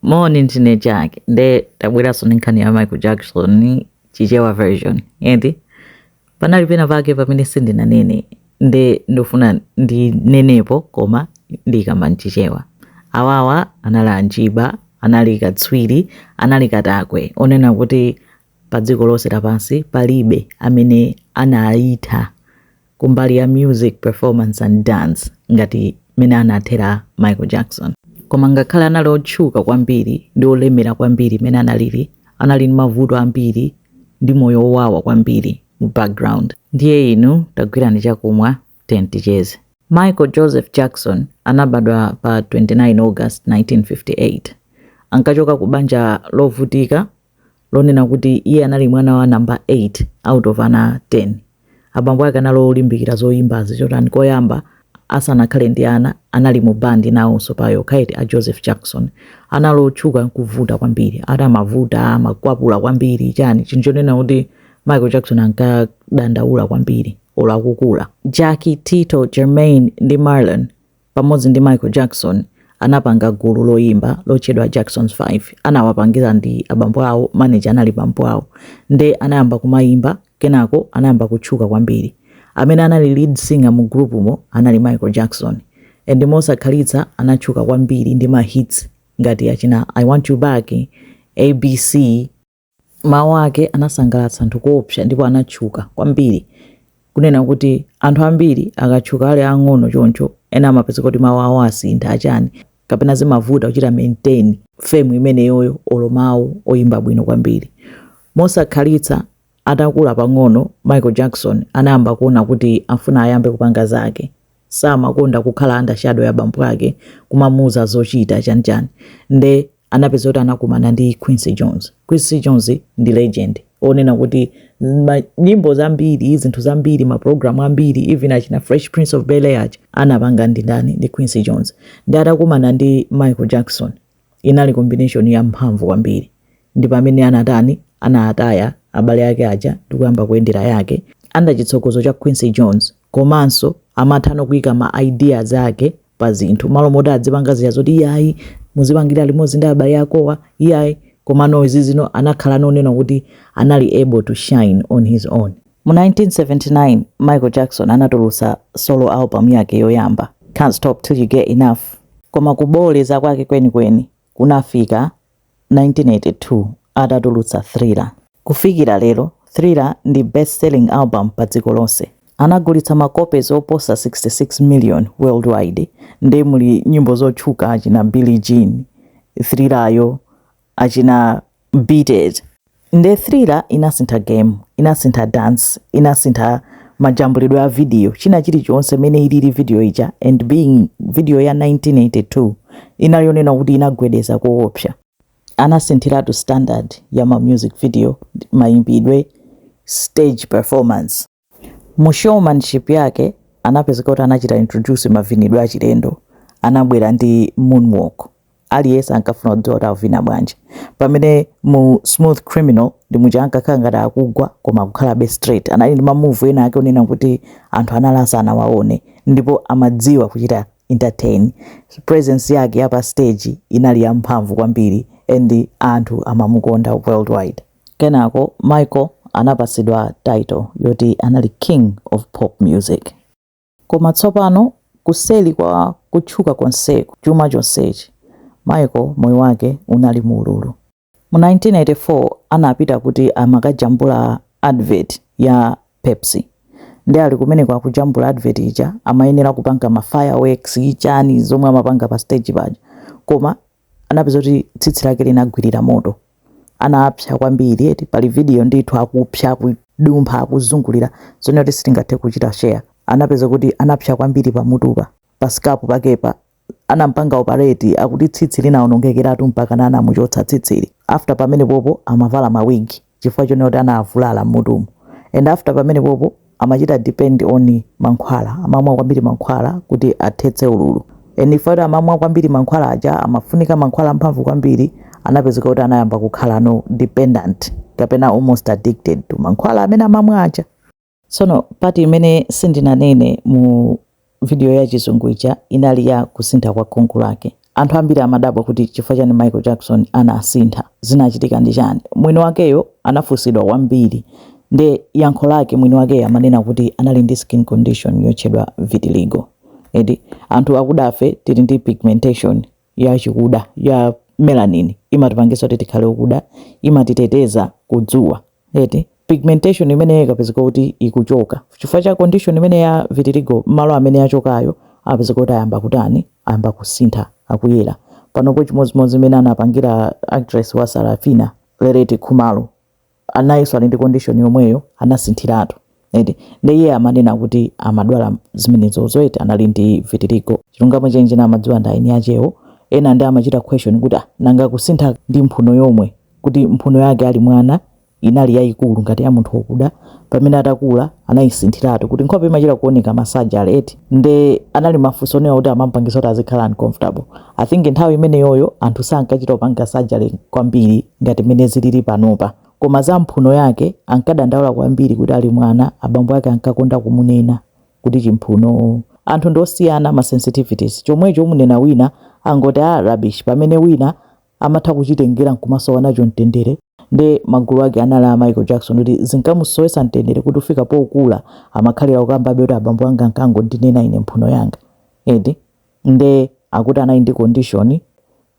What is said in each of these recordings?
Moni ndine Jack nde tabweranso ndi nkhani ya Michael Jackson chichewa version eti panali pena pake pamene sindinanene nde ndofuna ndinenepo koma ndikamba mchichewa awawa anali anjiba anali katswiri anali katakwe onena kuti pa dziko lonse lapansi palibe amene anaitha kumbali ya music performance and dance ngati mmene anathera Michael Jackson. Koma ngakhale anali otchuka kwambiri ndi olemera kwambiri mmene analili, anali ndi mavuto ambiri ndi moyo wowawa kwambiri mu background. Ndiye inu tagwirani chakumwa tiyeni ticheze. Michael Joseph Jackson anabadwa pa 29 August 1958. Ankachoka ku banja lovutika lonena kuti iye anali mwana wa namba 8 out of ana 10. Abambo ake anali olimbikira zoyimbazi chotani koyamba asanakhale ndi ana anali mu bandi nawonso paokha eti a Joseph Jackson anali otchuka kuvuta kwambiri ati amavuta amakwapula kwambiri chani chinthu chonena kuti Michael Jackson ankadandaula kwambiri olo akukula. Jackie, Tito, Jermaine ndi Marlon pamodzi ndi Michael Jackson anapanga gulu loyimba lotchedwa Jackson 5 anawapangira ndi abambo awo manager anali bambo awo nde anayamba kumayimba kenako anayamba kutchuka kwambiri amene anali lead singer mu group mo anali Michael Jackson and mosakhalitsa anatchuka kwambiri ndi ma hits ngati achina I want you back ABC Mawu ake anasangalatsa anthu koopsa ndipo anatchuka kwambiri. Onena kuti anthu ambiri akatchuka ali aang'ono choncho, ena amapezeka kuti mawu awo asintha, achani, kapena zimavuta kuchita maintain fame imeneyoyo olo mawu oyimba bwino kwambiri. Mosakhalitsa atakula pang'ono, Michael Jackson anayamba kuona kuti afuna ayambe kupanga zake. samakonda kukhala under shadow ya bambo ake kumamuuza zochita chani chani nde anapeza kuti anakumana ndi Quincy Jones. Quincy Jones ndi legend onena kuti ma- nyimbo zambiri zinthu zambiri maprogramu ambiri even achina fresh prince of bel air aja anapanga ndi ndani ndi Quincy Jones nde atakumana ndi Michael Jackson Inali combination ya mphamvu kwambiri ndi pamene anatani anataya abale ake aja ndi kuyamba kuyendera yake under chitsogozo cha Quincy Jones komanso amathano kuika ma ideas ake pa zinthu malo moti adzipanga zija zoti iyayi muzipangira limodzi ndi abale akowa iyayi komano izi zino anakhalano onena kuti anali able to shine on his own Mu 1979, Michael Jackson anatulutsa solo album yake yoyamba, Don't Stop 'til You Get Enough. Koma kuboleza kwake kwenikweni kunafika 1982 atatulutsa Thriller. Kufikira lero, Thriller ndi best-selling album padziko lonse. Anagulitsa ma copies oposa 66 million worldwide. Nde muli nyimbo zotchuka achina Billie Jean, Thriller yo, achina beat it nde thriller inasintha game inasintha dance inasintha majambulidwe a video china chilichonse mene ilili video ija and being video ya 1982 inali yonena kuti inagwedeza koopsa anasinthiratu standard ya ma music video mayimbidwe stage performance Mu showmanship yake, anapezeka kuti anachita introduce mavinidwe achilendo. Anabwera ndi moonwalk. Aliyense ankafuna kudziwa kuti akuvina bwanji. Pamene mu Smooth Criminal ndi muja ankakhala ngati akugwa koma akukhalabe straight. Anali ndi ma move ena ake onena kuti anthu anali asanawaone ndipo amadziwa kuchita entertain. Presence yake ya pa stage inali yamphamvu kwambiri and anthu amamukonda worldwide. Kenako Michael anapatsidwa title yoti anali King of Pop Music. Koma tsopano kuseli kwa kutchuka konseku, chuma chonsechi, Michael moyo wake unali mu ululu. Mu 1984 anapita kuti amakajambula advert ya Pepsi. Nde ali kumeneko akujambula advert ija amayenera kupanga ma fireworks chani zomwe amapanga pa stage paja koma anapeza kuti tsitsi lake linagwirira moto anapsa kwambiri eti pali video ndithu akupsa akudumpha akuzungulira zonena kuti sitingathe kuchita share anapeza kuti anapsa kwambiri pamutupa pa scalp pakepa anampanga opareti akuti tsitsi linaonongekeratu mpakana anamuchotsa tsitsili after pamenepopo amavala mawigi chifukwa chonena kuti anavulala m'mutumu and after pamenepopo amachita depend on mankhwala amamwa kwambiri mankhwala kuti athetse ululu and chifukwa kuti amamwa kwambiri mankhwala aja amafunika mankhwala amphamvu kwambiri anapezeka kuti anayamba kukhalano dependent kapena almost addicted to mankhwala amene amamwa aja Tsono part imene sindinanene mu vidiyo ya chizungu ija inali ya kusintha kwa khungu lake. Anthu ambiri amadabwa kuti chifukwa chani Michael Jackson anasintha, zinachitika ndi chani. Mwini wakeyo anafunsidwa kwambiri nde yankho lake mwini wakeyo amanena kuti anali ndi skin condition yotchedwa vitiligo. Eti anthu akudafe tili ndi pigmentation ya chikuda ya melanin imatipangisa kuti tikhale okuda imatiteteza kudzuwa eti pigmentation imeneyo ikapezeka kuti ikuchoka chifukwa cha condition imene ya vitiligo malo amene yachokayo apezeka kuti ayamba kutani ayamba kusintha akuyera panopo chimodzimodzi mene anapangira actress wa sarafina leleti khumalo anayinso ali ndi condition yomweyo anasinthiratu eti nde iye amanena kuti amadwala zimenezo zoti anali ndi vitiligo chilungamo chenicheni amadziwa ndi eni akewo ena nde amachita question kuti ah, nanga kusintha ndi mphuno yomwe kuti mphuno yake ali mwana inali yayikulu ngati ya munthu wokuda pamene atakula anayisinthiratu kuti nkhope imachita kuoneka ma surgery eti nde anali mafunso onena kuti amampangisa kuti azikhala uncomfortable I think nthawi imeneyoyo anthu sankachita kupanga surgery kwambiri ngati mmene zilili panopa. Koma za mphuno yake ankadandaula kwambiri kuti ali mwana abambo ake ankakonda kumunena kuti chimphuno. Anthu ndi osiyana ma sensitivities. Chomwecho umunena wina angoti ah rubbish pamene wina amatha kuchitengera nkumasowa nacho mtendere nde magulu ake anali a Michael Jackson kuti zinkamusowesa mtendere kuti kufika pokula amakhalira kukambabe kuti abambo anga ankangondinena ine mphuno yanga. Eti Nde akuti anali ndi condition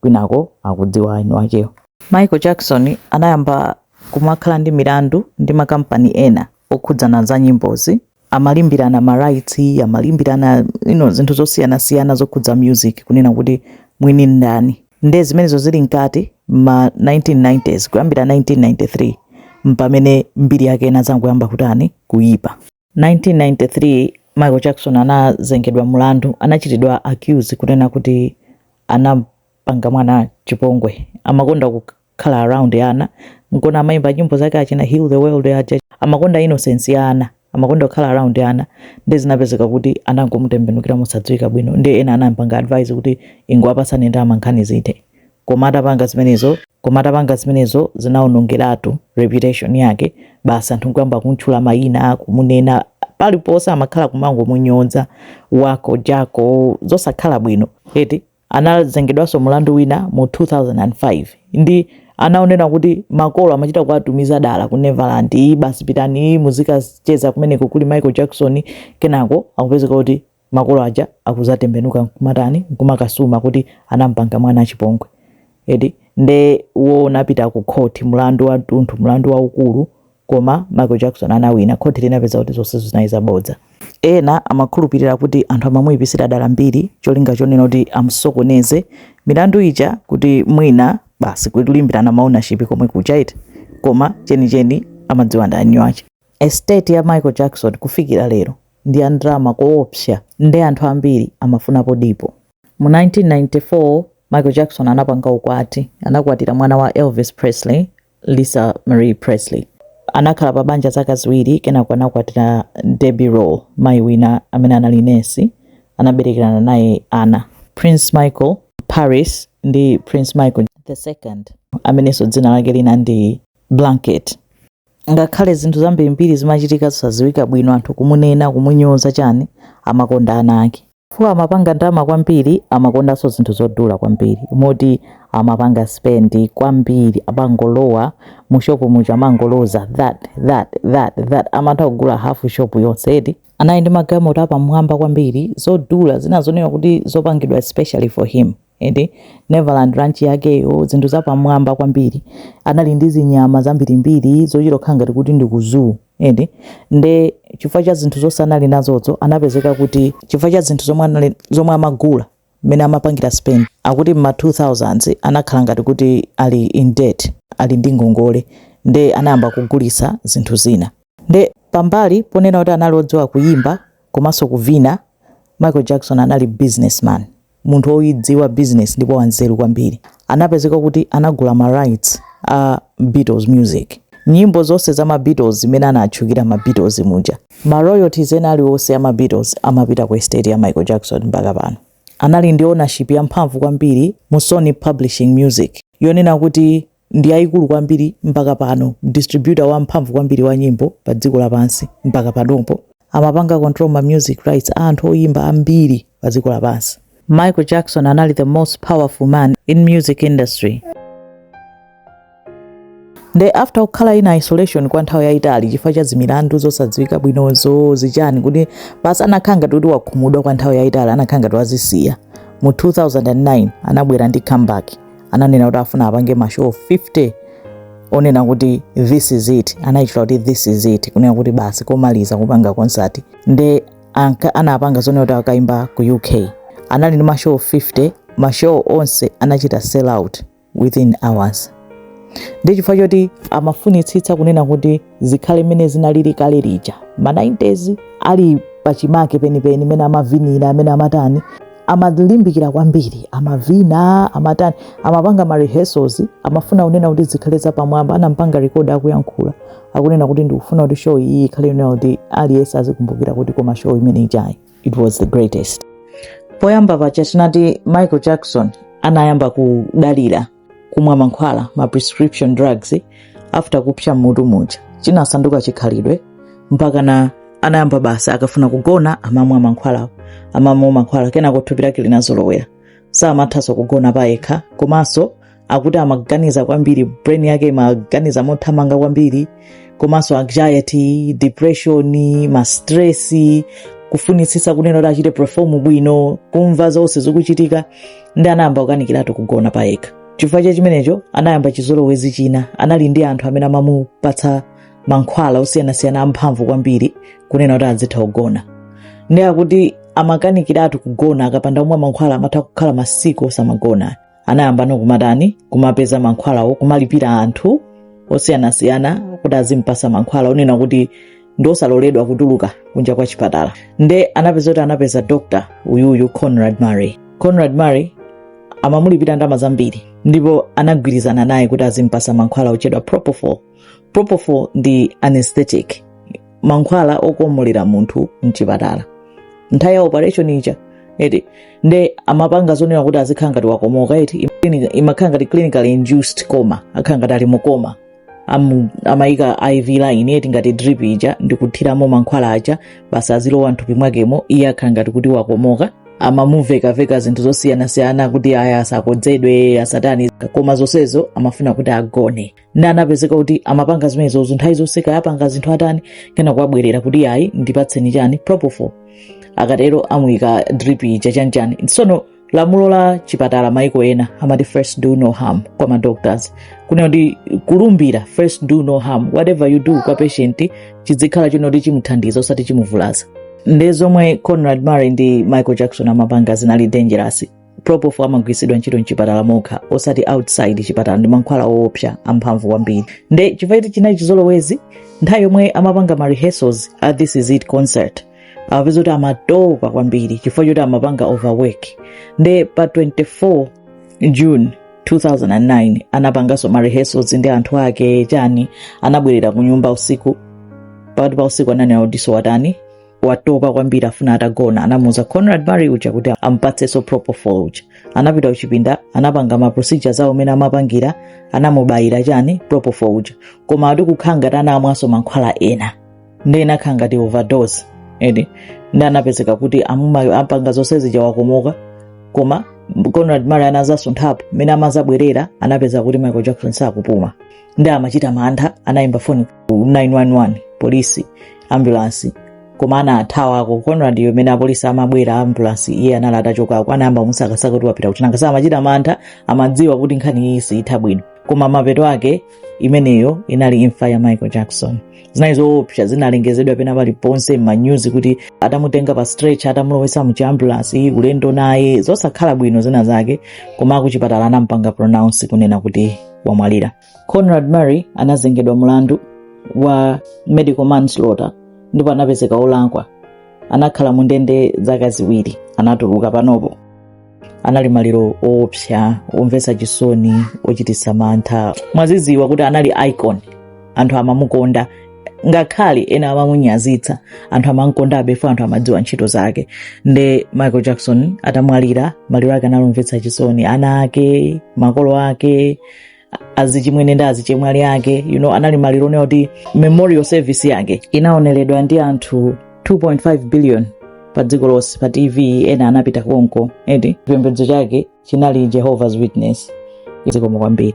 kwinako akudziwa eni akewo. Michael Jackson anayamba kumakhala ndi milandu ndi makampani ena okhudzana za nyimbozi, amalimbirana ma rights, amalimbirana you know, zinthu zosiyanasiyana zokhudza music kunena kuti mwini ndani. Nde zimenezo zili mkati ma 1990s kuyambira 1993 mpamene mbiri yake inadzangoyamba kutani kuyipa. 1993 Michael Jackson anazengedwa mulandu, anachitidwa accuse kunena kuti anampanga mwana chipongwe. Amakonda kukhala around ana, nkona amaimba nyimbo zake achina Heal the World aja. Amakonda innocence ya ana, amakonda kukhala around ana, nde zinapezeka kuti anangomutembenukira mosadziwika bwino, nde ena anampanga advise kuti ingowapatsani ndalama nkhani zithe. Koma atapanga zimenezo, koma atapanga zimenezo zinaonongeratu reputation yake, basi anthu nkuyamba kumtchula mayina, kumunena paliponse amakhala kumangomunyoza Wacko Jacko zosakhala bwino eti anazengedwanso mulandu wina mu 2005 nde anaona kuti makolo amachita kuwatumiza dala ku Neverland iyi basi pitani muzikacheza kumeneko kuli Michael Jackson kenako akupezeka kuti makolo aja akuzatembenuka nkumatani nkumakasuma kuti anampanga mwana chipongwe eti nde wo unapita ku court mlandu wa tunthu mlandu waukulu koma Michael Jackson anawina court linapeza kuti zonse zinali zabodza ena amakhulupirira kuti anthu amamuyipisira dala mbiri cholinga chonena kuti amsokoneze milandu ija kuti mwina basi kulimbirana ma ownership komwe kuchaita koma chenicheni amadziwa ndi eni ake Estate ya Michael Jackson kufikira lero ndi ya ndrama koopsa nde anthu ambiri amafunapo dipo. Mu 1994 Michael Jackson anapanga ukwati, anakwatira mwana wa Elvis Presley, Lisa Marie Presley. Anakhala pa banja zaka ziwiri kenako anakwatira Debbie Rowe, mayi wina amene anali nesi, anaberekerana naye ana, Prince Michael, Paris ndi Prince Michael the second amenenso dzina lake lina ndi Blanket. Ngakhale zinthu zambirimbiri zimachitika zosadziwika bwino, anthu kumunena, kumunyoza chani, amakonda ana ake. Chifukwa amapanga ndalama kwambiri, amakondanso zinthu zodula kwambiri, moti amapanga spend kwambiri, amangolowa mu shop muja amangoloza that that that that, amatha kugula half shop yonse eti. Anali ndi magalimoto apamwamba kwambiri, zodula, zina zonena kuti zopangidwa especially for him. Neverland Ranch yakeyo, zinthu zapamwamba kwambiri, anali ndi zinyama zambirimbiri zochita kukhala ngati kuti ndi ku zoo. Nde chifukwa cha zinthu zonse anali nazozo, anapezeka kuti chifukwa cha zinthu zomwe amagula, mmene amapangira spend, akuti mma 2000s anakhala ngati kuti ali in debt, ali ndi ngongole, nde anayamba kugulitsa zinthu zina. Nde pambali ponena kuti anali odziwa kuyimba komanso kuvina, Michael Jackson anali businessman. munthu woidziwa business ndipo wanzeru kwambiri, anapezeka kuti anagula ma rights a Beatles music. Nyimbo zonse za ma Beatles zimene anatchukira ma Beatles muja, ma royalties ena aliwonse a ma Beatles amapita ku estate ya Michael Jackson mpaka pano. Anali ndi ownership yamphamvu kwambiri mu Sony Publishing Music yonena kuti ndi yaikulu kwambiri mpaka pano distributor wamphamvu kwambiri wa nyimbo pa dziko lapansi mpaka panopo amapanga control ma music rights a anthu oyimba ambiri pa dziko lapansi michael jackson anali the most powerful man in music industry nde after kukhala in isolation kwa nthawi yayitali chifukwa cha zimilandu zosadziwika bwinozo zichani kuti basi anakhala ngati kuti wakhumudwa kwa nthawi yayitali anakhala ngati wazisiya mu 2009 anabwera ndi comeback ananena kuti afuna apange mashow 50 onena kuti this is it anayitchula kuti this is it kunena kuti basi komaliza kupanga concert nde anapanga zonena kuti akaimba ku uk anali ndi mashow 50 mashow onse anachita sell out within hours ndi chifukwa choti amafunitsitsa kunena kuti zikhale mmene zinalili kale lija ma 90s ali pachimake penipeni mene amavinira mene amatani amalimbikira kwambiri amavina amatani amapanga ma rehearsals amafuna kunena kuti zikhale zapamwamba anampanga record akuyankhula akunena kuti ndikufuna kuti show iyi ikhale yonena kuti aliyense azikumbukira kuti koma show imene ijayi it was the greatest poyamba paja tinati michael jackson anayamba kudalira kumwa mankhwala ma prescription drugs after kupsa mutu muja chinasanduka chikhalidwe mpakana anayamba basi akafuna kugona amamwa mankhwala amamwa mankhwala kenako thupi lake linazolowera samathanso kugona payekha komanso akuti amaganiza kwambiri brain yake imaganiza mothamanga kwambiri komanso anxiety depression mastresi kufunitsitsa kunena kuti achite perform bwino kumva zonse zikuchitika ndi anayamba kukanikiratu kugona pa yekha chifukwa cha chimenecho anayamba chizolowezi china anali ndi anthu amene amamupatsa mankhwala osiyanasiyana amphamvu kwambiri kunena kuti azitha kugona ndi akuti amakanikiratu kugona akapanda kumwa mankhwala amatha kukhala masiku osamagona anayambano kumatani kumapeza mankhwalawo kumalipira anthu osiyanasiyana kuti azimpasa mankhwala onena kuti ndi osaloledwa kutuluka kunja kwa chipatala nde anapeza kuti anapeza dr uyuyu conrad murray conrad murray amamulipira ndalama zambiri ndipo anagwirizana naye kuti azimpasa mankhwala otchedwa propofol propofol ndi anesthetic mankhwala okomolera munthu mchipatala nthawi ya operation ija eti nde amapanga zonena kuti azikhala ngati wakomoka eti Clinic- imakhala ngati clinically induced coma akhala ngati ali mu coma Amu- amamuyika iv line eti ngati drip ija ndikuthiramo mankhwala aja basi azilowa mthupi mwakemo iye akhala ngati kuti wakomoka amamuvekaveka zinthu zosiyanasiyana kuti aya asakodzedwe asatani koma zonsezo amafuna kuti agone ndi anapezeka kuti amapanga zimenezozo nthawi zonse kaya apanga zinthu atani kenako abwerera kuti ayi ndipatseni chani propofol akatero amuyika drip ija chanchani tsono lamulo la chipatala maiko ena amati first do no harm kwa madoctors kunena kuti kulumbira first do no harm whatever you do kwa patient chidzikhala chonena kuti chimuthandiza osati chimuvulaza nde zomwe conrad murray ndi michael jackson amapanga zinali dangerous propofol amagwiritsidwa ntchito mchipatala mokha osati outside chipatala ndi mankhwala oopsa amphamvu kwambiri nde chifukwa choti chinali chizolowezi nthawi yomwe amapanga ma rehearsals a this is it concert anapezeka kuti amatopa kwambiri chifukwa choti amapanga overwork nde pa 24 june 2009 anapanganso ma rehearsals ndi anthu ake chani anabwerera ku nyumba usiku pakati pa usiku ananena kuti watani watopa kwambiri afuna atagona anamuuza conrad murray uja kuti amupatsenso propofol uja anapita kuchipinda anapanga ma procedures awo mmene amapangira anamubayira chani propofol uja koma ati kukhala ngati anamwanso mankhwala ena ndi inakhala ngati overdose eti ndi anapezeka kuti amu- apanga zonse zija wakomoka koma conrad murray anadzasunthapo mmene amadzabwerera anapeza kuti michael jackson sakupuma ndi amachita mantha anayimba foni 911 polisi ambulansi koma anathawako conrad yomene apolisi amabwera ambulansi iye anali atachokako anayamba kumusakasaka kuti wapita kuti nangasa amachita mantha amadziwa kuti nkhani iyi siitha bwino koma mapeto ake imeneyo inali imfa ya michael jackson zinali zoopsa zinalengezedwa pena paliponse m'ma news kuti atamutenga pa stretcher atamulowesa mu chiambulansi ulendo naye zosakhala bwino zina zake koma akuchipatala anampanga pronounce kunena kuti wamwalira conrad murray anazengedwa mlandu wa medical manslaughter ndipo anapezeka olakwa anakhala mu ndende zaka ziwiri anatuluka panopo anali maliro oopsa omvetsa chisoni ochititsa mantha mwaziziwa kuti anali icon anthu amamukonda ngakhale ena amamunyazitsa anthu amamkondabe for anthu amadziwa ntchito zake nde michael jackson atamwalira maliro ake analomvetsa chisoni ana ake makolo ake azichimwene ndi azichemwali ake you know, anali maliro onena kuti memorial service yake inaoneredwa ndi anthu 2.5 billion pa dziko lonse pa tv ena anapita konko eti chipembedzo chake chinali jehovah's witness zikomo kwambiri